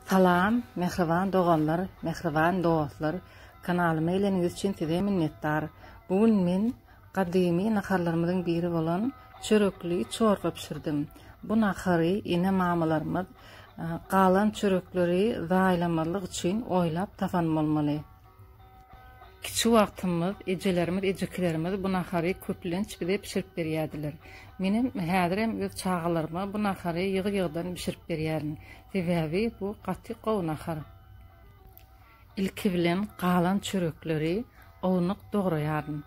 Salam mähriban doganlar mähriban dostlar kanalyma geleniňiz üçin size minnetdar bu gün men gadymy naharlarymyzyň biri bolan çörekli çorba bişirdim bu nahary ene mamalarymyz galan çörekleri zaýalamazlyk üçin oýlap tapan bolmaly. Kiçi wagtymyz ejelerimiz, ejekilerimiz bu nahary köplenç bize bişirip berýärdiler. Menem häzirem öz çagalaryma bu nahary ýygy-ýygydan bişirip berýärin. Sebäbi bu gaty gowy nahar. Ilki bilen galan çörekleri ownuk dograýaryn.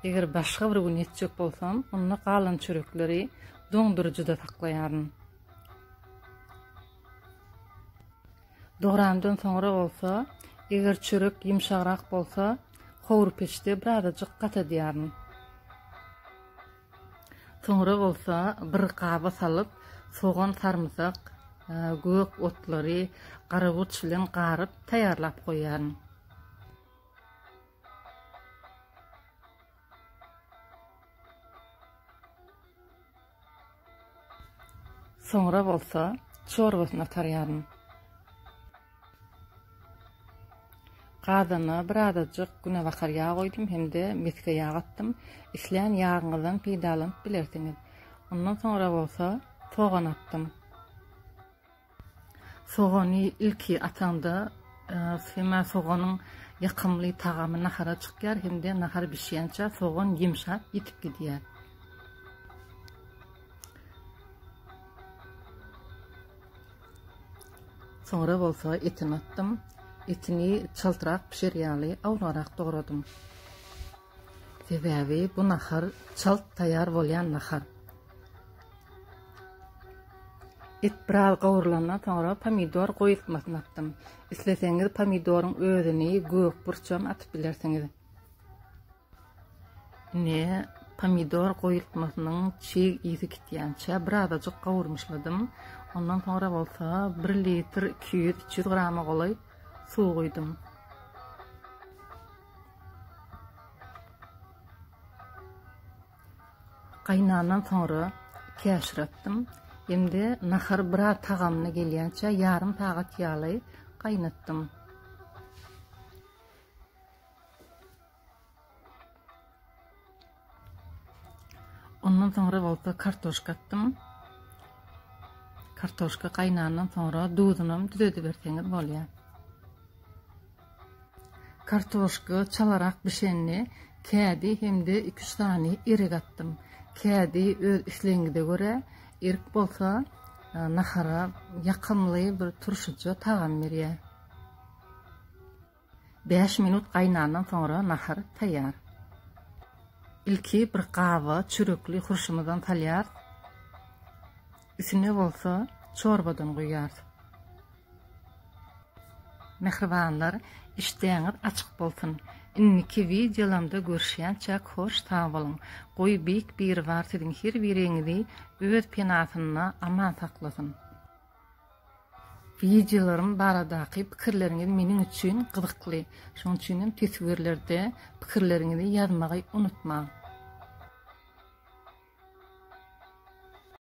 Eger başga bir gün etjek bolsam, onda galan çörekleri doňduryjyda saklaýaryn. Dograndan soňra bolsa, eger çörek ýumşagrak bolsa, howur peçde birazajyk gatadýaryn. Soňra bolsa bir gaba salyp, sogan, sarymsak, gök otlary, garaburç bilen garyp taýýarlap goýýaryn. Soňra bolsa çorbasyny atarýaryn. Gazana birazajyk günebakar ýag goýdum hem-de mesge ýag atdym. Islän ýagyňyzdan peýdalanyp bilersiňiz. Ondan soňra bolsa sogan atdym. Sogany ilki ataňda syma soganyň ýakymly tagamy nahara çykýar hem-de nahar bişýänçä sogan ýumşap ýitip gidýär. Soňra bolsa etini atdym. Etini çaltrak bişer ýaly awlarak dogradym. Sebäbi bu nahar çalt taýýar bolýan nahar. Et biraz gowrulandan soňra pomidor goýultmasyny atdym. Isleseňiz pomidoryň özüni, gök burçam atyp bilersiňiz. Ine, pomidor goýultmasynyň çig ýüzi gitýänçä birazajyk gowurmyşladym. Ondan soňra bolsa 1 litr 200-300 grama golaý suw guýdum. Gaýnandan soňra käşir atdym. Indi nahar biraz tagamyna gelýänçä ýarym sagat ýaly gaýnatdym. Ondan soňra bolsa kartoşka atdym. Kartoşka gaýnandan soňra duzuny hem düzedip berseňiz bolýar. Kartoşka çalarak bişende kädi hem-de 2-3 sany erik atdym. Kädi öz islegiňize görä, erik bolsa e, nahara ýakymly bir turşuja tagam berýär. Bäş minut gaýnandan soňra nahar taýýar. Ilki bir gaba çörekli hurşumyzdan salýarys. Üstüne bolsa çorbadan guýýarys. Mähribanlar, işdäňiz açyk bolsun! Indiki wideolamda görüşýänçäk hoş sag boluň! Goý Beýik Biribar siziň her biriňizi öz penasynda aman saklasyn! Wideolarym baradaky pikirleriňiz meniň üçin gyzykly, şonuň üçin hem teswirlerde pikirleriňizi ýazmagy unutmaň.